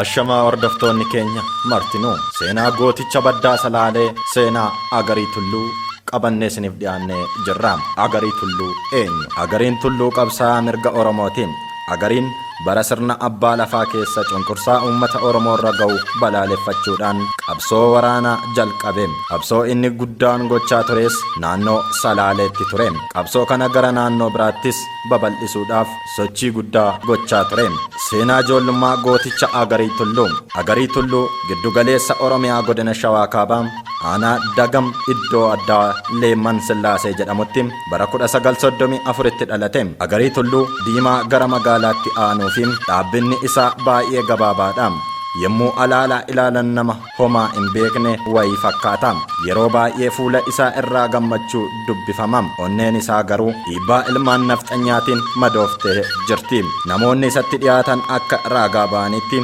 Ashamaa hordoftoonni keenya martinuu seenaa gooticha baddaa salaalee seenaa agarii tulluu qabannee isiniif dhiyaannee jirra. Agarii tulluu eenyu? Agariin tulluu qabsaa'aa mirga Oromootiin Agariin bara sirna abbaa lafaa keessa cunqursaa uummata Oromoorra gahu balaaleffachuudhaan qabsoo waraanaa jalqabe. Qabsoo inni guddaan gochaa tures naannoo Salaaleetti ture. Qabsoo kana gara naannoo biraattis babal'isuudhaaf sochii guddaa gochaa ture. Seenaa ijoollummaa gooticha Agarii Tulluu. Agarii Tulluu giddu galeessa Oromiyaa godina Shawaa Kaabaa aanaa Dagam iddoo addaa Leemman Sillaasee jedhamutti Bara 1934tti dhalate. Agarii Tulluu Diimaa gara magaalaatti aanuu fi dhaabbinni isaa baay'ee gabaabaadha. Yommuu alaalaa ilaalan nama homaa hin beekne wayii fakkaata. Yeroo baay'ee fuula isaa irraa gammachuu dubbifama. Onneen isaa garuu dhiibbaa ilmaan nafxanyaatiin madooftee jirti. Namoonni isatti dhiyaatan akka raagaa ba'anitti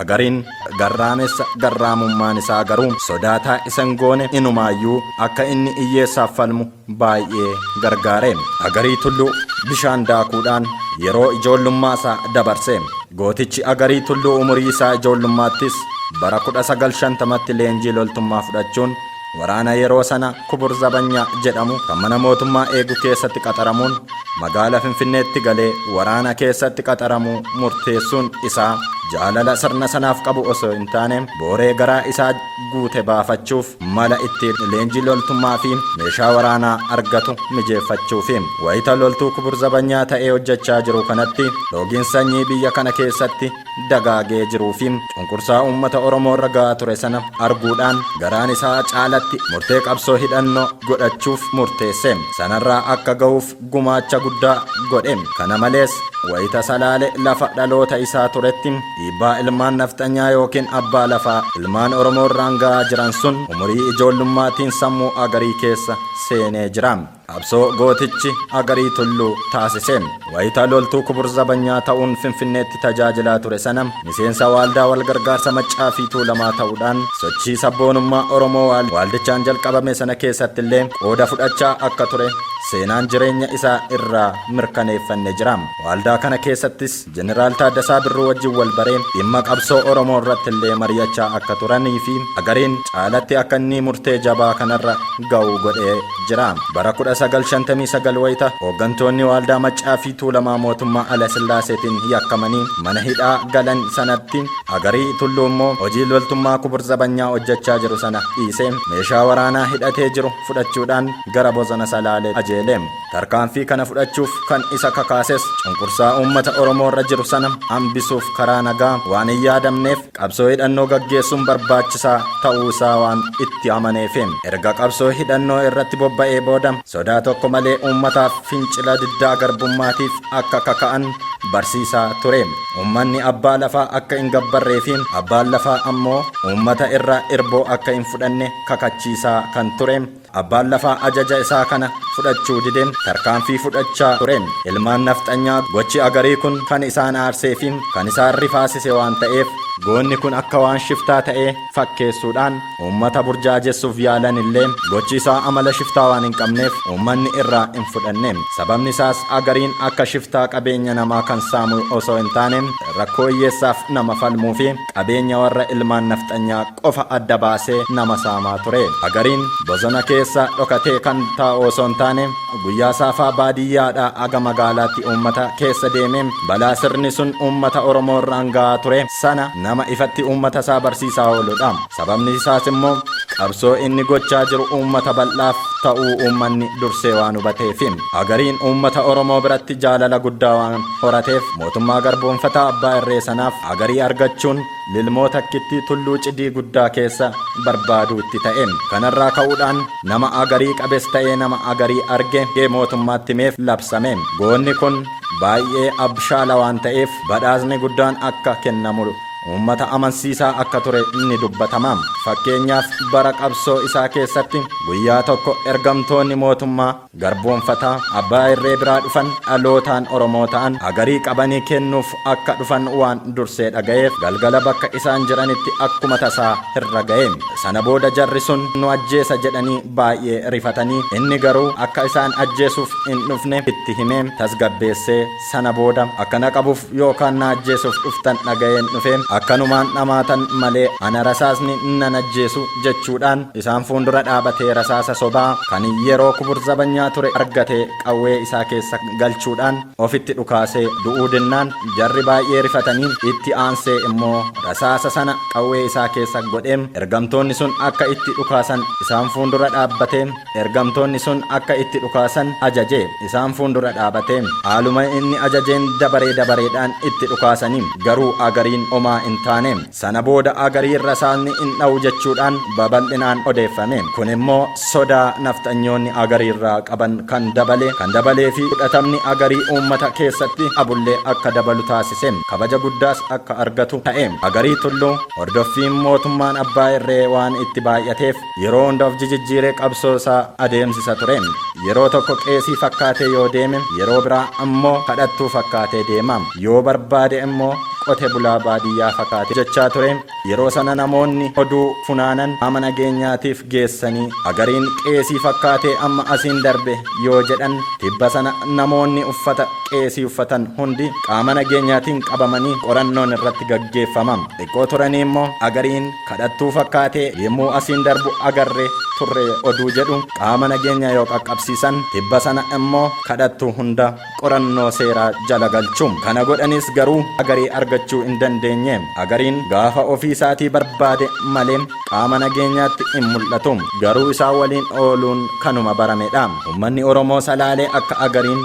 Agariin garraamessa garraamummaan isaa garuu sodaataa isa hin goone inumaayyuu akka inni iyyeessaaf falmu baay'ee gargaare. Agarii Tulluu bishaan daakuudhaan yeroo ijoollummaa isaa dabarse. Gootichi Agarii Tulluu umurii isaa ijoollummaattis bara 1950tti leenjii loltummaa fudhachuun Waraana yeroo sana Kubur Zabanyaa jedhamu kan mana mootummaa eegu keessatti qaxaramuun magaala Finfinneetti galee waraana keessatti qaxaramuu murteessuun isaa jaalala sirna sanaaf qabu osoo hin taane booree garaa isaa guute baafachuuf mala ittiin leenjii loltummaa fi meeshaa waraanaa argatu mijeeffachuufi. Wayita loltuu Kubur Zabanyaa ta'ee hojjechaa jiru kanatti loogiin sanyii biyya kana keessatti dagaagee jiruu fi cunqursaa uummata Oromoo irra ga'aa ture sana arguudhaan garaan isaa caalatti murtee qabsoo hidhannoo godhachuuf murteesse. Sanarraa akka ga'uuf gumaacha guddaa godhe. Kana malees wayita Salaale lafa dhaloota isaa turetti dhiibbaa ilmaan nafxanyaa yookiin abbaa lafaa ilmaan Oromoo irraan ga'aa jiran sun umurii ijoollummaatiin sammuu Agarii keessa seenee jira. Qabsoo gootichi Agarii Tulluu taasise. Wayita loltuu kubur zabanyaa ta'uun Finfinneetti tajaajilaa ture sana miseensa waaldaa walgargaarsa Maccaa fi Tuulamaa ta'uudhaan sochii sabboonummaa Oromoo waaldichaan jalqabame sana keessatti illee qooda fudhachaa akka ture seenaan jireenya isaa irraa mirkaneeffanne jira. Waaldaa kana keessattis Jeneraal Taaddasaa Birruu wajjin wal baree dhimma qabsoo Oromoo irratti illee mari'achaa akka turanii fi Agariin caalatti akka inni murtee jabaa kanarra ga'u godhee jira. Bara 1959 wayita hooggantoonni Waaldaa Maccaa fi Tuulamaa mootummaa Alasillaaseetiin yakkamanii mana hidhaa galan sanatti Agarii Tulluu immoo hojii loltummaa Kubur Zabanyaa hojjechaa jiru sana dhiisee meeshaa waraanaa hidhatee jiru fudhachuudhaan gara bosona Salaalee ajeele. Tarkaanfii kana fudhachuuf kan isa kakaases cunqursaa uummata Oromoo irra jiru sana hambisuuf karaa nagaa waan hin yaadamneef qabsoo hidhannoo gaggeessuun barbaachisaa ta'uu isaa waan itti amaneefi. Erga qabsoo hidhannoo irratti bobba'ee booda sodaa tokko malee uummataaf fincila diddaa garbummaatiif akka kaka'an barsiisaa ture. Uummanni abbaa lafaa akka hin gabbarree fi abbaan lafaa ammoo uummata irraa irboo akka hin fudhanne kakachiisaa kan ture. Abbaan lafaa ajaja isaa kana fudhachuu dide tarkaanfii fudhachaa ture. Ilmaan nafxanyaa gochi Agarii kun kan isaan aarsee fi kan isaan rifaasise waan ta'eef, goonni kun akka waan shiftaa ta'ee fakkeessuudhaan uummata burjaajessuuf yaalan illee gochi isaa amala shiftaa waan hin qabneef uummanni irraa hin fudhanne. Sababni isaas Agariin akka shiftaa qabeenya namaa kan saamu osoo hin taane rakkoo hiyyeessaaf nama falmuu fi qabeenya warra ilmaan nafxanyaa qofa adda baasee nama saamaa ture. Agariin bosona keessa dhokatee kan taa'u osoo hin taane guyyaa saafaa baadiyyaadhaa haga magaalaatti uummata keessa deemee balaa sirni sun uummata Oromoo irraan gahaa ture sana nama ifatti uummata isaa barsiisaa ooludha. Sababni isaas immoo qabsoo inni gochaa jiru uummata bal'aaf ta'uu uummanni dursee waan hubateefi. Agariin uummata Oromoo biratti jaalala guddaa waan. horateef mootummaa garboomfataa abbaa irree sanaaf agarii argachuun lilmoo takkittii tulluu cidii guddaa keessa barbaaduu itti ta'e. Kanarraa ka'uudhaan nama agarii qabes ta'ee nama agarii arge gee mootummaatti himeef labsame. Goonni kun baay'ee abshaala waan ta'eef badhaasni guddaan akka kennamu uummata amansiisaa akka ture ni dubbatama. Fakkeenyaaf bara qabsoo isaa keessatti guyyaa tokko ergamtoonni mootummaa. garboomfataa, abbaa irree biraa dhufan, dhalootaan Oromoo ta'an, agarii qabanii kennuuf akka dhufan waan dursee dhaga'eef, galgala bakka isaan jiranitti akkuma tasaa irra ga'e. Sana booda jarri sun nu ajjeesa jedhanii baay'ee rifatanii, inni garuu akka isaan ajjeesuuf hin dhufne itti himee, tasgabbeessee, Sana booda akka na qabuuf yookaan na ajjeesuuf dhuftan dhaga'een dhufe. Akkanumaan dhamaatan malee ana rasaasni nan ajjeesu jechuudhaan isaan fuundura dhaabatee rasaasa sobaa kan yeroo kubur zabanyaa ture argate qawwee isaa keessa galchuudhaan ofitti dhukaasee du'uu dinnaan jarri baay'ee rifatanii itti aansee immoo rasaasa sana qawwee isaa keessa godhee ergamtoonni sun akka itti dhukaasan isaan fuundura dhaabbatee Ergamtoonni sun akka itti dhukaasan ajaje. Isaan fuundura dhaabate. Haaluma inni ajajeen dabaree dabareedhaan itti dhukaasani. Garuu Agariin omaa in taane. Sana booda Agariin rasaasni in dha'u jechuudhaan babal'inaan odeeffame. Kun immoo sodaa nafxanyoonni Agariirraa qaban kan dabale, kan dabalee fi fudhatamni Agarii uummata keessatti abullee akka dabalu taasise. Kabaja guddaas akka argatu ta'e. Agarii Tulluu, hordoffiin mootummaan abbaa irree waan itti baay'ateef, Yeroo hunda of jijijjiiree qabsoo isaa adeemsisa ture. Yeroo tokko qeesii fakkaatee yoo deeme, yeroo biraa ammoo kadhattuu fakkaatee deema. Yoo barbaade immoo qote bulaa baadiyyaa fakaate jechaa ture. Yeroo sana namoonni oduu funaanan qaama nageenyaatiif geessanii agariin qeesii fakkaatee amma asiin darbe yoo jedhan, tibba sana namoonni uffata qeesii uffatan hundi qaama nageenyaatiin qabamanii qorannoon irratti gaggeeffama. Xiqqoo turanii immoo agariin. kadhattuu fakkaatee yemmuu asiin darbu agarree turre oduu jedhu qaama nageenya yoo qaqqabsiisan tibba sana immoo kadhattuu hunda qorannoo seeraa jala galchu. Kana godhaniis garuu Agarii argachuu hin dandeenye. Agariin gaafa ofii isaatii barbaade malee qaama nageenyaatti hin mul'atu. Garuu isaa waliin ooluun kanuma baramedha. Ummanni Oromoo Salaalee akka Agariin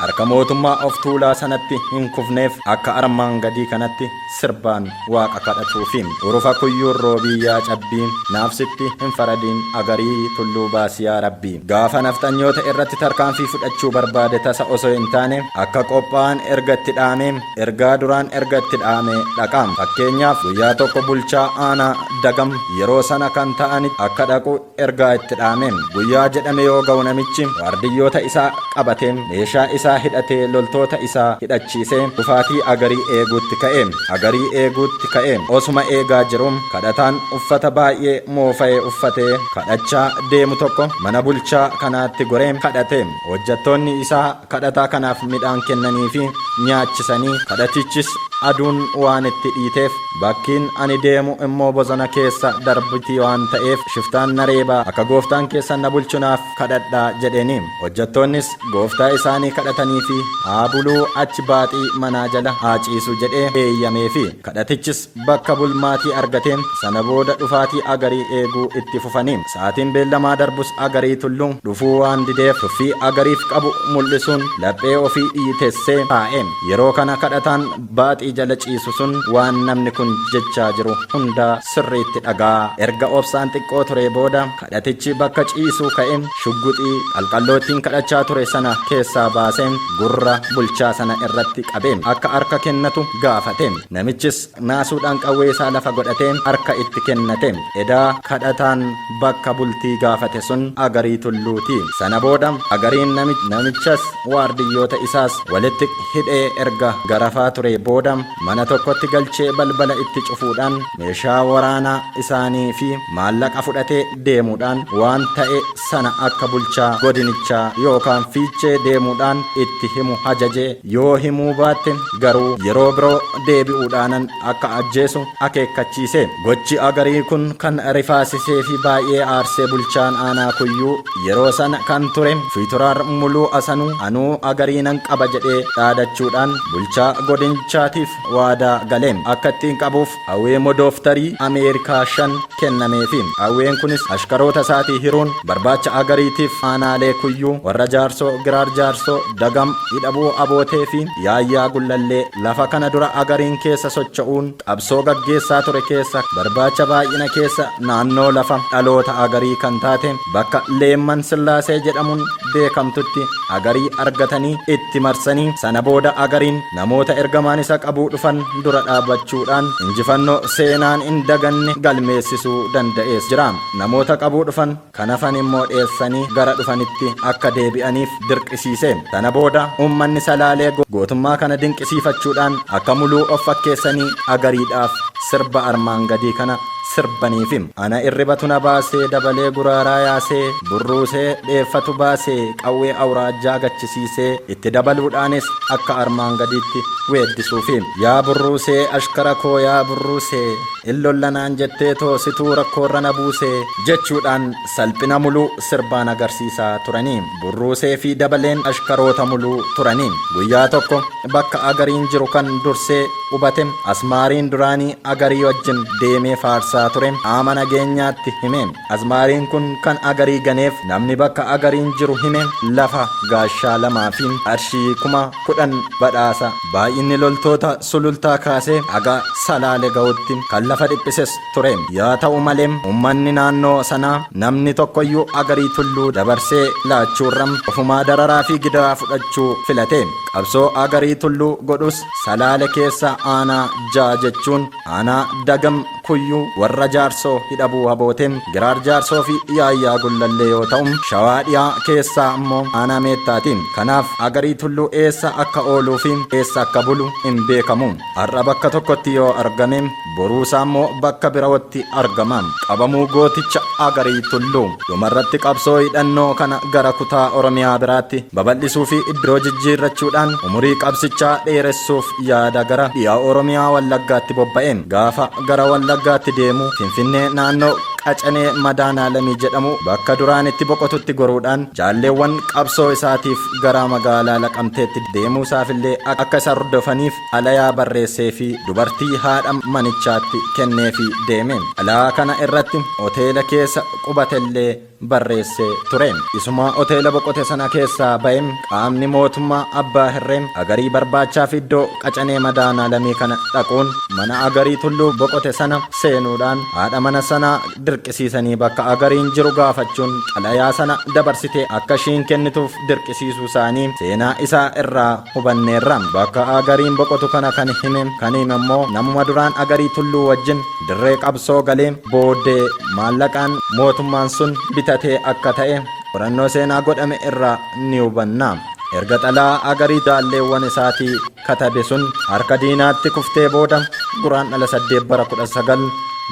harka mootummaa of tuulaa sanatti hin kufneef akka armaan gadii kanatti sirbaan waaqa kadhatuufi. Urufa kuyyuun roobii yaa cabbii naaf sitti hin faradiin agarii tulluu baasi yaa rabbii. Gaafa nafxanyoota irratti tarkaanfii fudhachuu barbaade tasa osoo hin taane akka qophaa'an erga itti dhaamee ergaa duraan erga itti dhaamee dhaqa. Fakkeenyaaf guyyaa tokko bulchaa aanaa Dagam yeroo sana kan ta'anitti akka dhaqu ergaa itti dhaame. Guyyaa jedhame yoo ga'u namichi waardiyyoota isaa qabatee, meeshaa isaa hidhatee, loltoota isaa hidhachiisee kufaatii Agarii eeguutti ka'e. Agarii eeguutti ka'e. Osuma eegaa jiru kadhataan uffata baay'ee moofa'e uffatee kadhachaa deemu tokko mana bulchaa kanaatti goree kadhate. Hojjattoonni isaa Kadhataa kanaaf midhaan kennaniifi nyaachisanii, kadhatichis aduun waan itti dhiiteef, bakkiin ani deemu immoo bosona keessa darbiti waan ta'eef, shiftaan na reeba, akka gooftaan keessan na bulchu naaf kadhadhaa jedheeni. Hojjattoonnis gooftaa isaanii kadhataniifi haa buluu achi baaxii manaa jala haa ciisu jedhee eeyyameefi. Kadhatichis bakka bulmaatii argate. Sana booda dhufaatii Agarii eeguu itti fufani. Sa'aatiin beellamaa darbus Agarii Tulluu dhufuu waan dideef tuffii Agariif qabu mul'isuun laphee ofii dhiitessee taa'e. Yeroo kana kadhataan baaxii jala ciisu sun waan namni kun jechaa jiru hundaa sirriitti dhaga'aa. Erga obsaan xiqqoo turee booda. Kadhatichi bakka ciisuu ka'e, shugguxii qalqalloo ittiin kadhachaa ture sana keessaa baasee gurra bulchaa sana irratti qabee akka harka kennatu gaafate. Namichis naasuudhaan qawwee isaa lafa godhatee harka itti kennate. Edaa kadhataan bakka bultii gaafate sun Agarii Tulluu ti. Sana booda Agariin namichas waardiyyoota isaas walitti hidhee erga garafaa turee booda, mana tokkotti galchee balbala itti cufuudhaan meeshaa waraanaa isaanii fi maallaqa fudhatee deemuudhaan waan ta'e sana akka bulchaa godinichaa yookaan fiichee deemuudhaan itti himu hajaje yoo himuu baatte garuu yeroo biroo deebi'uudhaanan akka ajjeesu akeekkachiise gochi agarii kun kan rifaasisee fi baay'ee aarsee bulchaan aanaa kuyyuu Yeroo sana kan ture Fiitoraar Muluu Asanuu anuu agarii nan qaba jedhee dhaadachuudhaan bulchaa godinchaatiif waadaa gale. Akka ittiin qabuuf Awee Modooftarii Ameerikaa shan kennameefi. Aween kunis ashkaroota isaatii hiruun barbaacha Agariitiif aanaalee Kuyyuu, Warra Jaarsoo, Giraar Jaarsoo, Dagam, Idhabuu Abooteefi Yaayyaa Gullallee lafa kana dura Agariin keessa socho'uun Qabsoo gaggeessaa ture keessa barbaacha baay'ina keessa naannoo lafa dhaloota Agarii kan taate bakka Leemman Sillaasee jedhamuun beekamtutti Agarii argatanii itti marsanii sana booda Agariin namoota ergamaan isa qabuu dhufan dura dhaabachuudhaan injifannoo seenaan hin daganne galmeessisuu danda'ees jira. Namoota qabuu dhufan. Kan hafan immoo dheessanii gara dhufanitti akka deebi'aniif dirqisiise. Sana booda uummanni Salaalee gootummaa kana dinqisiifachuudhaan akka muluu of fakkeessanii agariidhaaf sirba armaan gadii kana sirbaniifi. Ana irribatu na baasee dabalee guraaraa yaasee burruusee dheeffatu baasee qawwee awuraajjaa gachisiisee itti dabaluudhaanis akka armaan gadiitti weeddisuufi. Yaa burruusee ashkara koo yaa burruusee. Hin lolla naan jetteetoo situu rakkoorra na buusee. jechuudhaan salphina Muluu sirbaan agarsiisaa turani. Burruuseefi Dabaleen ashkaroota Muluu turani. Guyyaa tokko bakka Agariin jiru kan dursee qubate Asmaariin duraanii Agarii wajjin deemee faarsaa ture qaama nageenyaatti hime. Azmaariin kun kan Agarii ganeef namni bakka Agariin jiru hime lafa gaashaa lamaa fi qarshii kuma kudhan badhaasa. Baay'inni loltoota Sulultaa kaasee haga Salaale ga'utti kan lafa dhiphises ture. Yaa ta'u malee ummanni naannoo sanaa namni tokkoyyuu Agarii Tulluu dabarsee laachuurra ofumaa dararaa fi gidiraa fudhachuu filate. Qabsoo Agarii Tulluu godhus Salaale keessa aanaa ja'a jechuun Aanaa Dagam Kuyyuu warra Jaarsoo Hidhabuu Haboote, Giraar Jaarsoo fi Yaayyaa Gullallee yoo ta'u, Shawaa Dhiyaa keessaa ammoo Aanaa Meettaati. Kanaaf Agarii Tulluu eessa akka ooluu fi eessa akka bulu hin beekamu. Har'a bakka tokkotti yoo argame, boruusaa immoo bakka biraotti argama. Qabamuu Gooticha Agarii Tulluu. Dhumarratti qabsoo hidhannoo kana gara kutaa Oromiyaa biraatti babal'isuu fi iddoo jijjiirrachuudhaan umurii qabsichaa dheeressuuf Yaada gara dhiha Oromiyaa Wallaggaatti bobba'e. Gaafa gara Wallaggaatti deemu Finfinnee naannoo Qacanee Madaanaalamii jedhamu bakka duraan itti boqotutti goruudhaan jaalleewwan qabsoo isaatiif gara magaalaa Laqamteetti deemuusaafillee akka isa hordofaniif xalayaa barreesseefii dubartii haadha manichaatti kenneefii deeme. Xalayaa kana irratti hoteela keessa qubatellee. barreessee ture. Isuma hoteela boqote sana keessaa ba'e qaamni mootummaa Abbaa Hirree Agarii barbaachaaf iddoo qacanee madaanaa lamii kana dhaquun mana Agarii Tulluu boqote sana seenuudhaan haadha mana sanaa dirqisiisanii bakka Agariin jiru gaafachuun xalayaa sana dabarsitee akka ishiin kennituuf dirqisiisuu isaanii seenaa isaa irraa hubanneerra. Bakka Agariin boqotu kana kan hime kan hime immoo namuma duraan Agarii Tulluu wajjin Dirree qabsoo galee booddee maallaqaan mootummaan sun bitatee akka ta'e qorannoo seenaa godhame irraa ni hubanna. Erga xalaa agarii jaalleewwan isaatii katabe sun harka diinaatti kuftee booda guraan dhala saddeet bara 19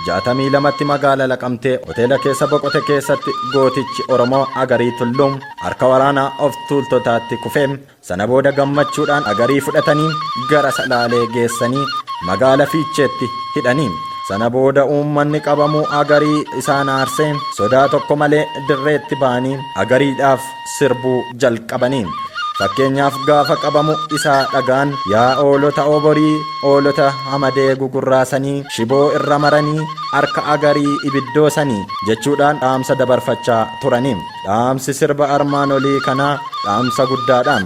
jaatamii lamatti magaala laqamtee hoteela keessa boqote keessatti gootichi Oromoo Agarii Tulluu harka waraanaa of tuultotaatti kufee Sana booda gammachuudhaan Agarii fudhatanii gara Salaalee geessanii magaala Fiicheetti hidhani. Sana booda uummanni qabamuu Agarii isaan aarsee sodaa tokko malee dirreetti ba'anii Agariidhaaf sirbuu jalqabani. Fakkeenyaaf gaafa qabamu isaa dhagaan yaa oolota Oborii oolota hamadee gugurraasanii shiboo irra maranii harka Agarii ibiddoosanii jechuudhaan dhaamsa dabarfachaa turani. Dhaamsi sirba armaan olii kanaa dhaamsa guddaadha.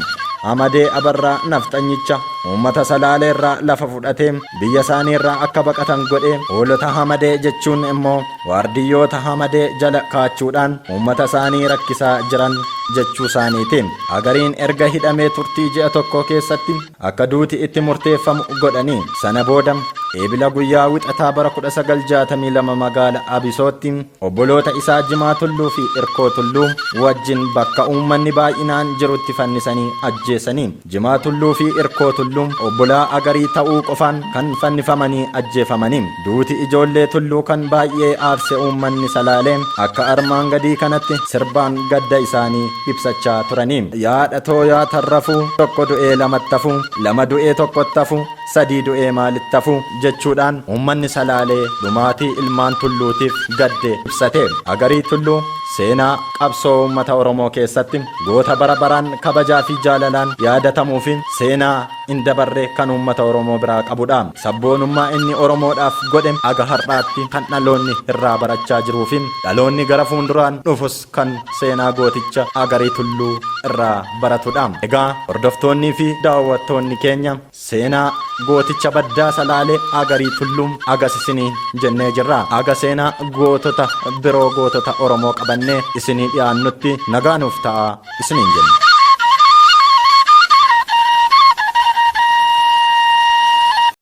Amadee Abarraa nafxanyicha uummata Salaalee irraa lafa fudhatee biyya isaanii irraa akka baqatan godhe hoolota Hamadee jechuun immoo waardiyyoota Hamadee jala kaachuudhaan uummata isaanii rakkisaa jiran jechuu isaaniiti. Agariin erga hidhamee turtii ji'a tokkoo keessatti akka duuti itti murteeffamu godhanii sana booda Eebila guyyaa wixataa bara 1962 magaala Abisootti Obboloota isaa Jimaa Tulluu fi Irkoo Tulluu wajjin bakka uummanni baay'inaan jirutti fannisanii ajjeesani. Jimaa Tulluu fi Irkoo Tulluu obbolaa Agarii ta'uu qofaan kan fannifamanii ajjeefamani. Duuti ijoollee Tulluu kan baay'ee aarse uummanni Salaalee akka armaan gadii kanatti sirbaan gadda isaanii ibsachaa turani. Yaa dhatoo yaa tarrafuu, tokko du'ee lamattafu, lama du'ee tokkottafu, sadii du'ee maal itti hafu? jechuudhaan uummanni Salaalee dhumaatii ilmaan Tulluutiif gadde ibsate. Agarii Tulluu seenaa qabsoo uummata Oromoo keessatti goota bara baraan kabajaa fi jaalalaan yaadatamuu fi seenaa hin dabarre kan uummata Oromoo biraa qabu dha. Sabboonummaa inni Oromoodhaaf godhe haga har'aatti kan dhaloonni irraa barachaa jiruu fi dhaloonni gara fuunduraan dhufus kan seenaa gooticha Agarii Tulluu irraa baratu dha. Egaa hordoftoonnii fi daawwattoonni keenya. Seenaa gooticha baddaa salaalee agarii tulluu agas isinii jennee jirra. Aga seenaa gootota biroo gootota Oromoo qabannee isinii dhiyaannutti nagaa nuuf ta'aa isiniin jenna.